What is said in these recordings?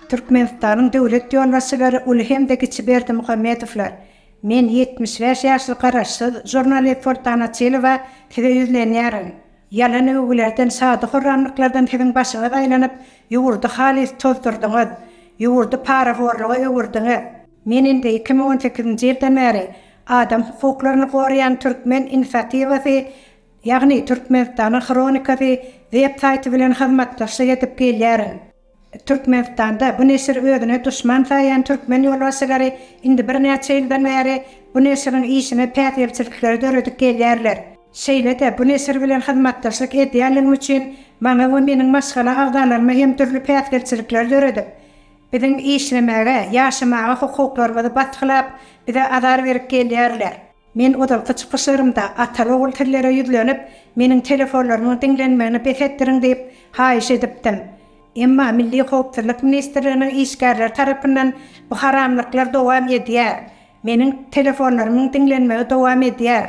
Türkmenistanyň döwlet ýolbaşçylary uly hem-de kiçi Berdimuhamedowlar, Men ýetmiş bäş ýaşly garaşsyz žurnalist Soltan Açylowa size ýüzlenýärin. Ýalan öwgülerden, şady-horramlyklardan siziň başyňyz aýlanyp, ýurdy halys tozdurdyňyz. Ýurdy parahorluga öwürdiňiz. Men indi iki müň on sekizinji ýyldan bäri adam hukuklaryny goraýan Türkmen inisiatiwasy, ýagny Türkmenistanyň hronikasy web saýty bilen hyzmatdaşlyk edip gelýärin. Türkmenistanda bu neşiri özüne duşman saýýan türkmen ýolbaşçylary indi birnäçe ýyldan bäri bu neşiriň işine päsgelçilikleri döredip gelýärler. Şeýle-de bu neşir bilen hyzmatdaşlyk edýänligim üçin maňa we meniň maşgala agzalaryma hem dürli päsgelçilikleri döredip, Biziň işlemäge, ýaşamaga hukuklarymyzy basgylap, bize azar berip gelýärler. Men ozalky çykyşlarymda ataly-ogul sizlere ýüzlenip, meniň telefonlarymyň diňlenmegini bes etdiriň diýip, haýyş edipdim. Emma Milli howpsuzlyk ministrliginiň işgärleri tarapyndan bu haramlyklar dowam edýär. Meniň telefonlarymyň diňlenmegi dowam edýär.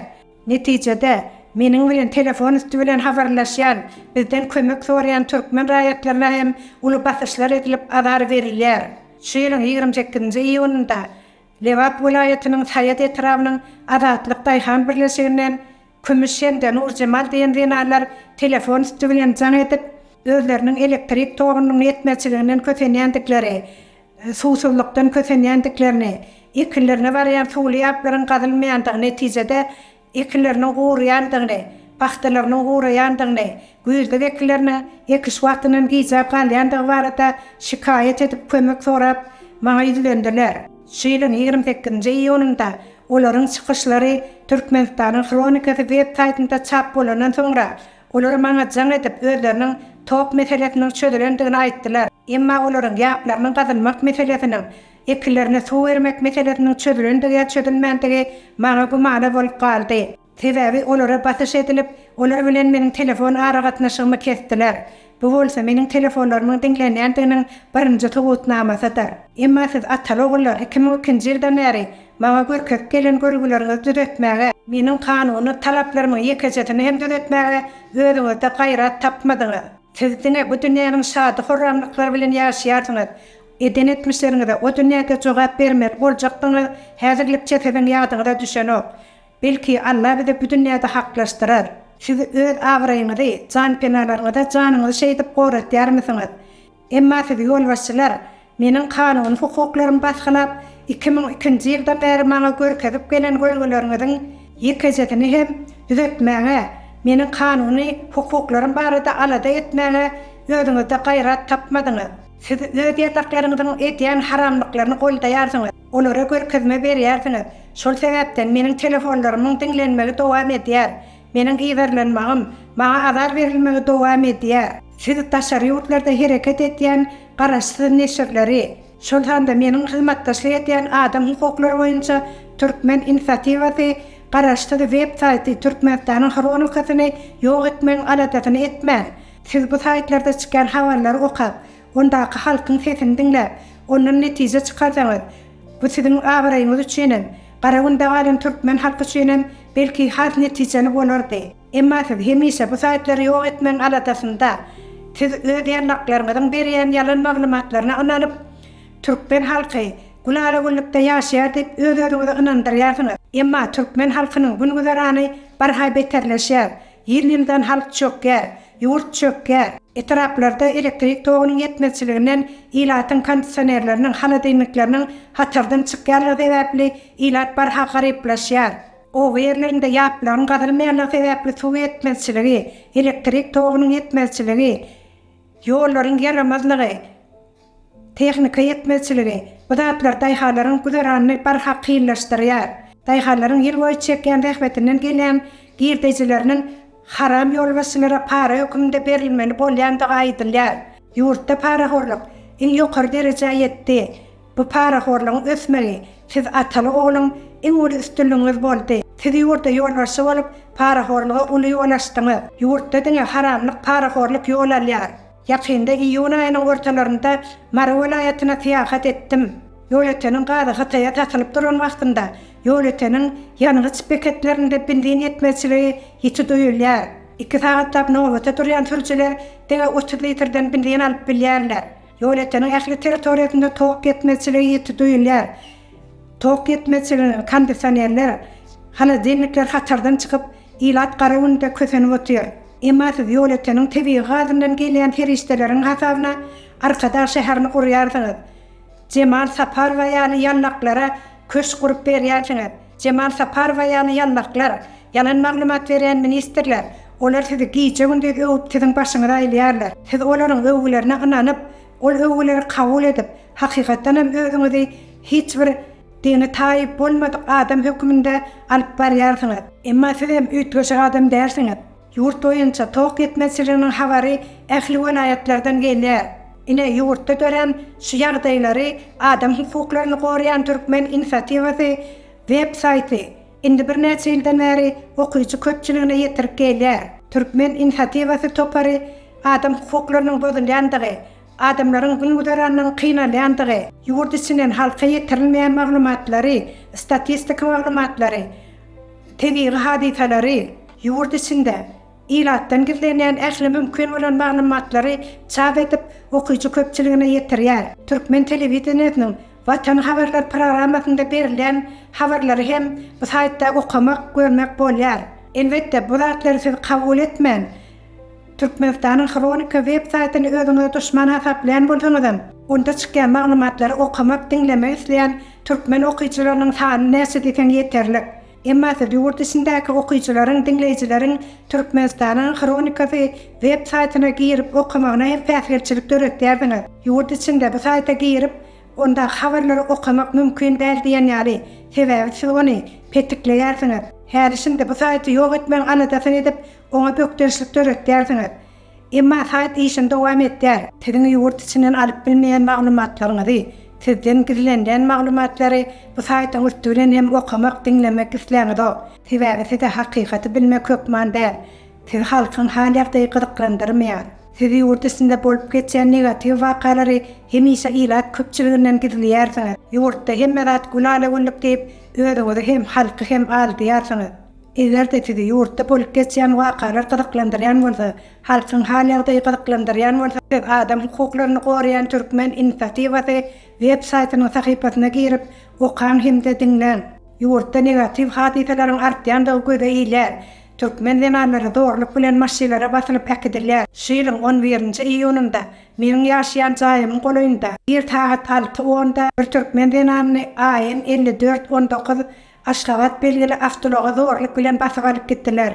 Netijede, meniň bilen telefon üsti bilen habarlaşýan, bizden kömek soraýan türkmen raýatlaryna hem uly basyşlar edilip, azar berilýär. Şu ýylyň ýigrimi sekizinji iýunynda Lebap welaýatynyň Saýat etrabynyň Azatlyk daýhan birleşiginden Kümüş hem-de Nurjemal diýen zenanlar telefon üsti bilen jaň edip, özleriniň elektrik togunyň ýetmezçiliginden kösenýändikleri, suwsuzlykdan kösenýändiklerini, ekinlerine barýan suwly ýaplaryň gazylmaýandygy netijede ekinleriniň guraýandygyny, pagtalarynyň guraýandygyny, güýzlük ekinleriniň ekiş wagtyndan gijäp galýandygy barada şikaýat edip kömek sorap maňa ýüzlendiler. Şu ýylyň ýigrimi sekizinji iýunynda olaryň çykyşlary Türkmenistanyň hronikasy web saýtynda çap bolandan soňra, Olar maňa jaň edip, özleriniň tok meselesiniň çözülendigini aýtdylar. Emma olaryň ýaplarynyň gazylmak meselesiniň, ekinlerine suw bermek meselesiniň çözülendigi ýa çözülmändigi maňa gümana bolup galdy. Sebäbi olara basyş edilip, olar bilen meniň telefon aragatnaşygymy kesdiler. Bu bolsa meniň telefonlarymyň diňlenýändiginiň birinji subutnamasydyr. Emma siz Ataly ogullar iki müň ikinji ýyldan bäri maňa görkezip gelen görgüleriňizi düzetmäge, meniň kanuny talaplarymyň ýekejesini hem düzetmäge özüňizde gaýrat tapmadyňyz. Siz diňe bu dünýäniň şady-horramlyklary bilen ýaşaýarsyňyz. Eden etmişleriňize o dünýäde jogap bermeli boljakdygyňyz häzirlikçe siziň ýadyňyza düşenok. Belki Alla bizi bu dünýäde haklaşdyrar. Siz öz abraýyňyzy, janpenalaryňyza janyňyzy şeýdip goratýarmysyňyz? Emma siz ýolbaşçylar meniň kanuny hukuklarymy basgylap, iki müň ikinji ýyldan bäri maňa görkezip gelen görgüleriňiziň ýekejesini hem düzetmäge, meniň kanuny hukuklarym barada alada etmäge özüňizde gaýrat tapmadyňyz. Siz öz ýataklaryňyzyň edýän haramlyklaryny goldaýarsyňyz. Olara görkezme berýärsiňiz. Şol sebäpden meniň telefonlarymyň diňlenmegi dowam edýär. Meniň yzarlanmagym, maňa azar berilmegi dowam edýär. Siz daşary ýurtlarda hereket edýän garaşsyz neşirleri, şol sanda meniň hyzmatdaşlyk edýän adam hukuklary boýunça Türkmen inisiatiwasy garaşsyz web saýty Türkmenistanyň hronikasyny ýok etmegiň aladasyny etmän, siz bu saýtlarda çykýan habarlary okap, Ondaky halkyň sesini diňläp, ondan netije çykarsaňyz, bu siziň abraýyňyz üçin hem, Garagünde galan türkmen halky üçin hem belki has netijeli bolardy. Emma siz hemişe bu saýtlary ýok etmegiň aladasynda. Siz öz ýarlaklaryňyzyň berýän ýalan maglumatlaryna ynanyp, türkmen halky gülala-güllükde ýaşaýar diýip öz-özüňizi ynandyrýarsyňyz. Emma türkmen halkynyň gün-güzerany barha beterleşýär. Ýyl-ýyldan halk çökýär. Ýurt çökýär. Etraplarda elektrik togunyň ýetmezçiliginden ilatyň kondisionerleriniň, holodilnikleriniň hatardan çykýanlygy sebäpli ilat barha garyplaşýar. Oba ýerlerinde ýaplaryň gazylmaýanlygy sebäpli suw ýetmezçiligi, elektrik togunyň ýetmezçiligi, ýollaryň ýaramazlygy, Tehnika ýetmezçiligi, bu zatlar daýhanlaryň güzeranyny barha kynlaşdyrýar. Daýhanlaryň ýyl boýy çekýän zähmetinden gelýän girdejileriniň haram ýolbaşçylara para höküminde berilmeli bolýandygy aýdylýar. Ýurtda parahorluk iň ýokary derejä ýetdi. Bu parahorlugyň ösmegi siz ataly ogluň iň uly üstünligiňiz boldy. Siz ýurda ýolbaşçy bolup parahorluga uly ýol açdyňyz. Ýurtda diňe haramlyk parahorluk ýol alýar. Ýakynda iýun aýynyň ortalarynda Mary welaýatyna syýahat etdim. Ýolöteniň gazy Hytaýa satylyp duran wagtynda ýolöteniň ýangyç beketlerinde benzin ýetmezçiligi ýiti duýulýar. Iki sagatlap nobata durýan sürüjiler diňe otuz litrden benzin alyp bilýärler. Ýolöteniň ähli territoriýasynda tok ýetmezçiligi ýiti duýulýar. Tok ýetmezçiliginiň kondisionerler, holodilnikler hatardan çykyp, ilat gara günde kösenip otyr. Emma siz ýolöteniň tebigy gazyndan gelýän serişdeleriň hasabyna Arkadag şäherini gurýarsyňyz. Jemal Saparowa ýaly ýallaklara köşk gurup berýärsiňiz. Jemal Saparowa ýaly ýallaklar, ýalan maglumat berýän ministrler, olar sizi gije-gündiz öwüp siziň başyňyzy aýlaýarlar. Siz olaryň öwgülerine ynanyp, Ol öwgüleri kabul edip, hakykatdan hem özüňizi hiç bir dini taýyp bolmadyk adam höküminde alyp barýarsyňyz. Emma siz hem üýtgeşik adam dälsiňiz. Ýurt boýunça tok ýetmezçiliginiň habary ähli welaýatlardan gelýär. Ine, ýurtda dörän şu ýagdaýlary Adam hukuklaryny goraýan türkmen inisiatiwasy web saýty Indi birnäçe ýyldan bäri okyjy köpçüligine ýetirip gelýär. Türkmen inisiatiwasy topary adam hukuklarynyň bozulýandygy, adamlaryň gün-güzeranynyň kynalýandygy, ýurt içinden halka ýetirilmeýän maglumatlary, statistik maglumatlary, tebigy hadysalary ýurt içinde Ilatdan gizlenýän ähli mümkin bolan maglumatlary çap edip, okyjy köpçüligine ýetirýär. Türkmen telewideniýesiniň Watan habarlar programmasynda berilýän habarlary hem bu saýtda okamak, görmek bolýar. Elbetde, bu zatlary siz kabul etmän, Türkmenistanyň Hronika web saýtyny özüňize duşman hasaplaýan bolsaňyzam, onda çykýan maglumatlary okamak, diňlemek isleýän türkmen okyjylarynyň sany näçe diýseň ýeterlik. Emmasy, ýurt içindäki okyjylaryň, diňleýjileriň Türkmenistanyň hronikasy web saýtyna girip okamagyna hem päsgelçilik döretýärsiňiz. Ýurt içinde bu saýta girip, ondaky habarlary okamak mümkin däl diýen ýaly, sebäbi siz ony petikleýärsiňiz. Häli-şindi bu saýty ýok etmegiň aladasyny edip, oňa bökdençlik döretýärsiňiz. Emma saýt işini dowam etdýär. Siziň ýurt içinden alyp bilmeýän maglumatlaryňyzy, sizden gizlenilýän maglumatlary bu saýtyň üsti bilen hem okamak, diňlemek isläňizok. Sebäbi size hakykaty bilmek hökman däl. Sizi halkyň hal-ýagdaýy gyzyklandyrmaýar. Siz ýurt içinde bolup geçýän negatiw wakalary hemişe ilat köpçüliginden gizleýärsiňiz. Ýurtda hemme zat gülala-güllük diýip, özüňizi hem, halky hem aldýarsyňyz. Eger-de sizi ýurtda bolup geçýän wakalar gyzyklandyrýan bolsa, halkyň hal-ýagdaýy gyzyklandyrýan bolsa, siz adam hukuklaryny goraýan türkmen inisiatiwasy web saýtynyň sahypasyna girip, okaň hem-de diňläň. Ýurtda negatiw hadysalaryň artýandygy göze ilýär. Türkmen zenanlary zorluk bilen maşylara basylyp äkidilýär. Şu ýylyň on birinji iýunynda meniň ýaşaýan jaýymyň golaýynda, ir sagat alty onda bir türkmen zenanyny AN elli dört on dokuz Aşgabat belgili awtoulaga zorluk bilen basyp alyp gitdiler.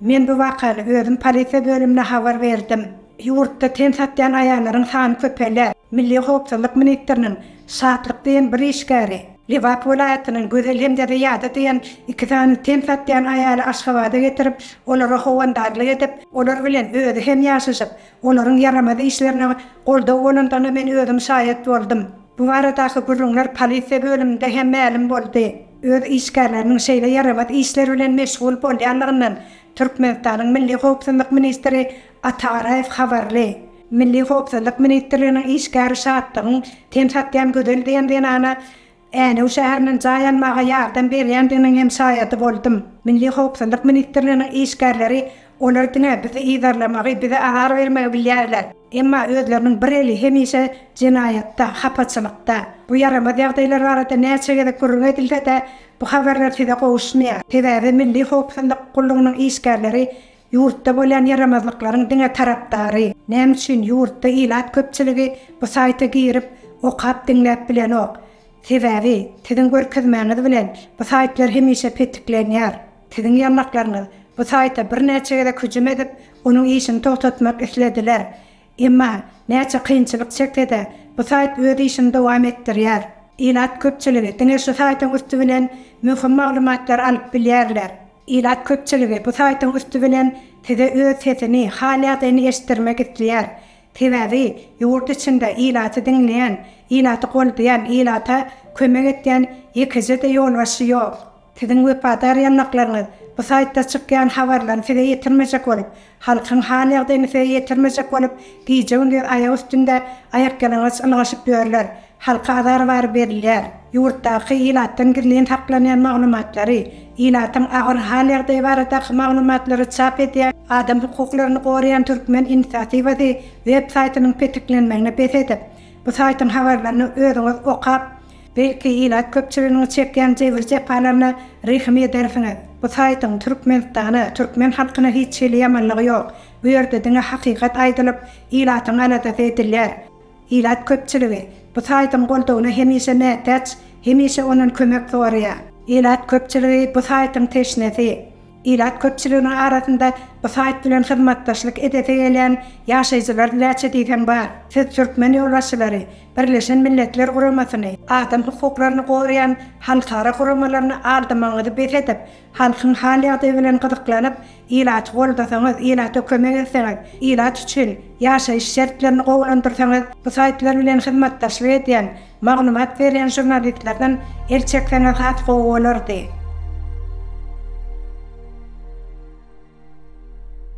Men bu wakany özüm polisiýa bölümine habar berdim. Ýurtda ten satýan aýallaryň sany köpelýär. Milli howpsuzlyk ministriniň Şatlyk diýen bir işgäri, Lebap welaýatynyň Gözel hem-de Zyýada diýen iki sany ten satýan aýaly Aşgabada getirip, olara howandarlyk edip, olar bilen özi hem ýaşaşyp, olaryň ýaramaz işlerine goldaw bolandygyna men özüm şaýat boldum. Bu baradaky gürrüňler polisiýa bölüminde hem mälim boldy. Öz işgärleriniň şeýle ýaramaz işler bilen meşgul bolýanlygyndan Türkmenistanyň Milli howpsuzlyk ministri Ata Garaýew habarly. Milli howpsuzlyk ministrliginiň işgäri Şatlygyň ten satýan Gözel diýen zenana Änew şäherinden jaý almaga ýardam berýändiginiň hem şaýady boldum. Milli howpsuzlyk ministrliginiň işgärleri olar diňe bizi yzarlamagy, bize azar bermegi bilýärler. Emma özleriniň bir eli hemişe jenaýatda, hapaçylykda. Bu ýaramaz ýagdaýlar barada näçe gezek gürrüň edilse-de, bu habarlar size gowuşmaýar. Sebäbi Milli howpsuzlyk gullugynyň işgärleri ýurtda bolýan ýaramazlyklaryň diňe tarapdary. Näme üçin ýurtda ilat köpçüligi bu saýta girip, okap, diňläp bilenok? Sebäbi, siziň görkezmäňiz bilen, bu saýtlar hemişe petiklenýär. Siziň ýanlaklaryňyz bu saýta birnäçe gezek hüjüm edip, onuň işini togtatmak islediler. Emma, näçe kynçylyk çekse-de, bu saýt öz işini dowam etdirýär. Ilat köpçüligi diňe şu saýtyň üsti bilen möhüm maglumatlary alyp bilýärler. Ilat köpçüligi bu saýtyň üsti bilen size öz sesini, hal-ýagdaýyny eşitdirmek isleýär. Sebäbi, ýurt içinde ilaty diňleýän, ilaty goldaýan, ilata kömek edýän ýekeje-de ýolbaşçy ýok. Siziň wepadar ýanlaklaryňyz bu saýtda çykýan habarlaryny size ýetirmejek bolup, halkyň hal-ýagdaýyny size ýetirmejek bolup, gije-gündiz aýak üstünde aýakýalaňaç ylgaşyp ýörler. Halka azar bary berilýär. Ýurtdaky ilatdan gizlin saklanýan maglumatlary, ilatyň agyr hal-ýagdaýy baradaky maglumatlary çap edýän, Adam hukuklaryny goraýan Türkmen inisiatiwasy web saýtynyň petiklenmegini bes edip, bu saýtyň habarlaryny özüňiz okap, Belki ilat köpçüliginiň çekýän jebir-jepalaryna rehim edersiňiz. Bu saýtyň Türkmenistana, türkmen halkyna hiç hili ýamanlygy ýok. Bu ýerde diňe hakykat aýdylyp, ilatyň aladasy edilýär. Ilat köpçüligi bu saýtyň goldawyna hemişe mätäç, hemişe ondan kömek soraýar. Ilat köpçüligi bu saýtyň teşnesi. Ilat köpçüliginiň arasynda bu saýt bilen hyzmatdaşlyk edesi gelýän ýaşaýjylar näçe diýseň bar. Siz türkmen ýolbaşçylary, Birleşen Milletler Guramasyny, adam hukuklaryny goraýan halkara guramalaryny aldamagyňyzy bes edip, halkyň hal-ýagdaýy bilen gyzyklanyp, ilaty goldasaňyz, ilata kömek etseňiz, ilat üçin ýaşaýyş şertlerini gowulandyrsaňyz, bu saýtlar bilen hyzmatdaşlyk edýän Maglumat berýän žurnalistlerden el çekseňiz has gowy bolardy.